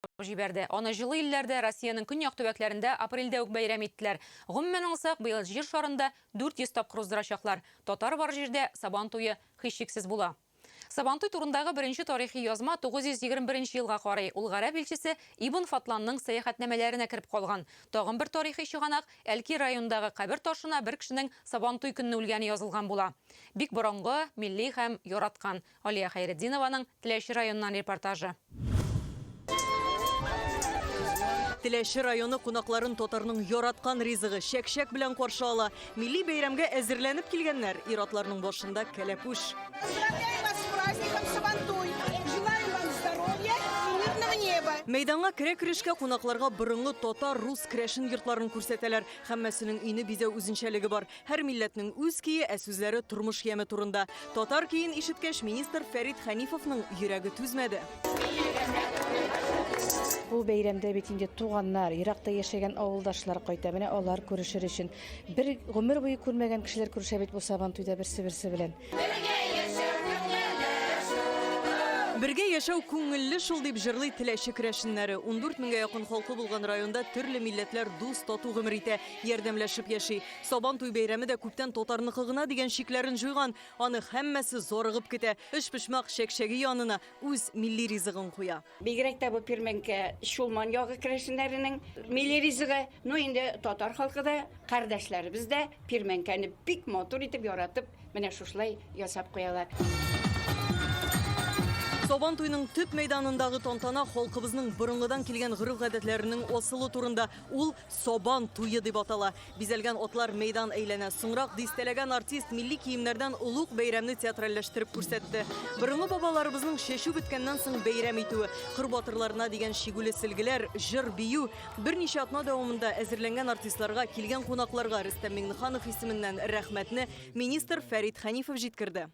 алып җибәрде. Аны җылы илләрдә, Россиянең көньяк төбәкләрендә апрельдә үк бәйрәм иттеләр. Гомумән алсак, быел Җир шарында 400 тапкыр уздырачаклар. Татар бар җирдә Сабан туе һичшиксез була. Сабантуй турындагы беренче тарихи язма 921 нче елга карый, ул гарәп илчесе Ибн Фатланның сәяхәтнамәләренә кереп калган. Тагын бер тарихи чыганак, Әлки районындагы кабер ташына бер кешенең Сабантуй көнне үлгәне язылган була. Бик борынгы, милли һәм яраткан Алия Хәйретдинованың Теләче районыннан репортажы. Теләче районы кунакларын татарның яраткан ризыгы, чәк-чәк белән каршы ала. Милли бәйрәмгә әзерләнеп килгәннәр, ир-атларның башында кәләпүш. Поздравляем вас с праздником Сабантуй! Желаем вам здоровья и мирного неба! Мәйданга керә-керешкә кунакларга борынгы татар, рус керәшен йортларын күрсәтәләр. Һәммәсенең өйне бизәү үзенчәлеге бар. Һәр милләтнең үз көе, ә сүзләре тормыш яме турында. Татар көен ишеткәч, министр Фәрит Хәнифовның йөрәге түзмәде. Бу бәйрәмдә бит инде туганнар, еракта яшәгән авылдашлар кайта. Менә алар күрешер өчен. Бер гомер буе күрмәгән кешеләр күрешә бит бу Сабантуйда берсе-берсе белән. Бергә яшәү күңелле шул, дип җырлый Теләче керәшеннәре. Ундүрт меңгә якын халкы булган районда төрле милләтләр дус-тату гомер итә. Ярдәмләшеп яши. Сабан туй бәйрәме дә күптән татарныкы гына дигән чикләрен җуйган. Аны һәммәсе зарыгып көтә. Өчпочмак чәкчәге янына үз милли ризыгын куя. Бигрәк тә бу Пирмәнкә, Чулман ягы керәшеннәренең милли ризыгы. Ну инде татар халкы да, кардәшләребез дә Пирмәнкәне бик матур итеп, яратып, менә шушылай ясап куялар. Сабан туйның төп мәйданындагы тантана халкыбызның борынгыдан килгән гореф-гадәтләренең асылы турында. Ул Сабан туе дип атала. Бизәлгән атлар мәйдан әйләнә. Соңрак дистәләгән артист милли киемнәрдән олуг бәйрәмне театральләштереп күрсәтте. Борынгы бабаларыбызның чәчү беткәннән соң бәйрәм итүе, кыр батырларына дигән чигүле сөлгеләр, җыр, бию. Берничә атна дәвамында әзерләнгән артистларга, килгән кунакларга Рөстәм Миңнеханов исеменнән рәхмәтне министр Фәрит Хәнифов җиткерде.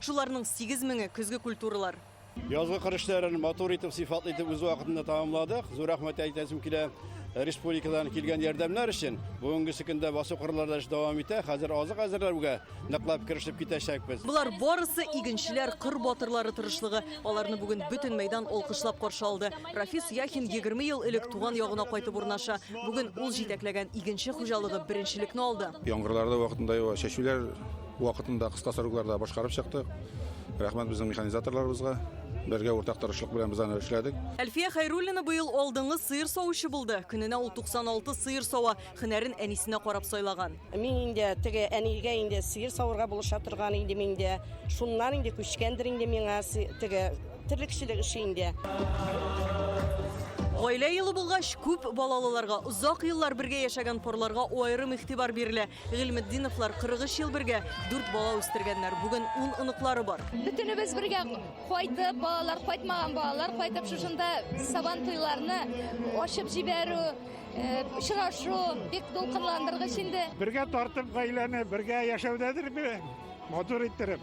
Шуларның сигез меңе, көзге культуралар. Язгы кыр эшләрен матур итеп, сыйфатлы итеп үз вакытында тәмамладык. Зур рәхмәт әйтәсем килә республикадан килгән ярдәмнәр өчен. Бүгенге көндә басу кырларда эш дәвам итә. Хәзер азык әзерләүгә ныклап керешеп китәчәкбез. Болар барысы игенчеләр, кыр батырлары тырышлыгы. Аларны бүген бөтен мәйдан алкышлап каршы алды. Рафис Яхин 20 ел элек туган ягына кайтып урнаша. Бүген ул җитәкләгән игенче хуҗалыгы беренчелекне алды. Яңгырлар да вакытында ява, чәчүләр Вакытында кыска срокларда башкарып чыктык. Рәхмәт безнең механизаторларыбызга. Бергә уртак тырышлык белән без аны эшләдек. Әлфия Хәйруллина быел алдынгы сыер савучы булды. Көненә ул 96 сыер сава, һөнәрен әнисенә карап сайлаган. Мин инде теге әнигә инде сыер савырга булыша торган идем инде. Шуннан инде күчкәндер инде миңа теге терлекчелек эше инде. Гаилә елы булгач, күп балалыларга, озак еллар бергә яшәгән парларга аерым игътибар бирелә. Гыйльметдиновлар 43 ел бергә дүрт бала үстергәннәр. Бүген ун оныклары бар. Бөтенебез бергә кайтып, балалар кайтмаган балалар кайтып шушында сабан туйларны ачып җибәрү, э, очрашу бик дулкынландыргыч инде. Бергә тартып гаиләне, бергә яшәүдәдер бе? Матур иттереп.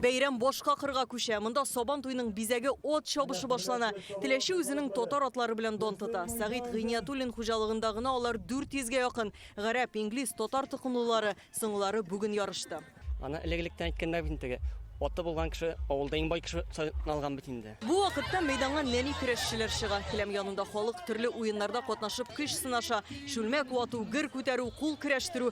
Бәйрәм башка кырга күчә. Монда Сабан туйның бизәге от чабышы башлана. Теләче үзенең татар атлары белән дан тота. Сәгыйть Гыйниятуллин хуҗалыгында гына алар 400 гә якын. Гарәп, инглиз, татар токымлылары, соңгылары бүген ярышты. Аны элек-электән әйткәндә бит инде, аты булган кеше авылда иң бай кеше саналган бит инде. Бу вакытта мәйданга нәни көрәшчеләр чыга. Келәм янында халык төрле уеннарда катнашып көч сынаша. Чүлмәк вату, гер күтәрү, кул көрәштерү,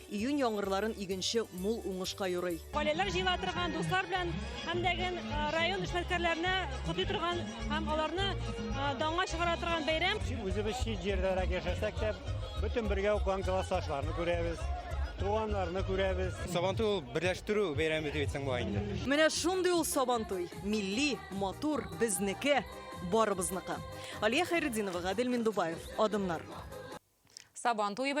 Июнь яңгырларын игенче мул уңышка юрый. Гаиләләр җыела торган, дуслар белән һәм дәген район эшмәткәрләренә котлый торган һәм аларны данга чыгара торган бәйрәм. Үзебез чит җирдәрәк яшәсәк тә, бөтен бергә укыган классташларны күрәбез туганнарны күрәбез. Сабантуй ул берләштерү бәйрәме дип әйтсәң була инде. Менә шундый ул Сабантуй. Милли, матур, безнеке, барыбызныкы. Алия Хәйретдинова, Гадел Миндубаев, Адымнар. Сабантуй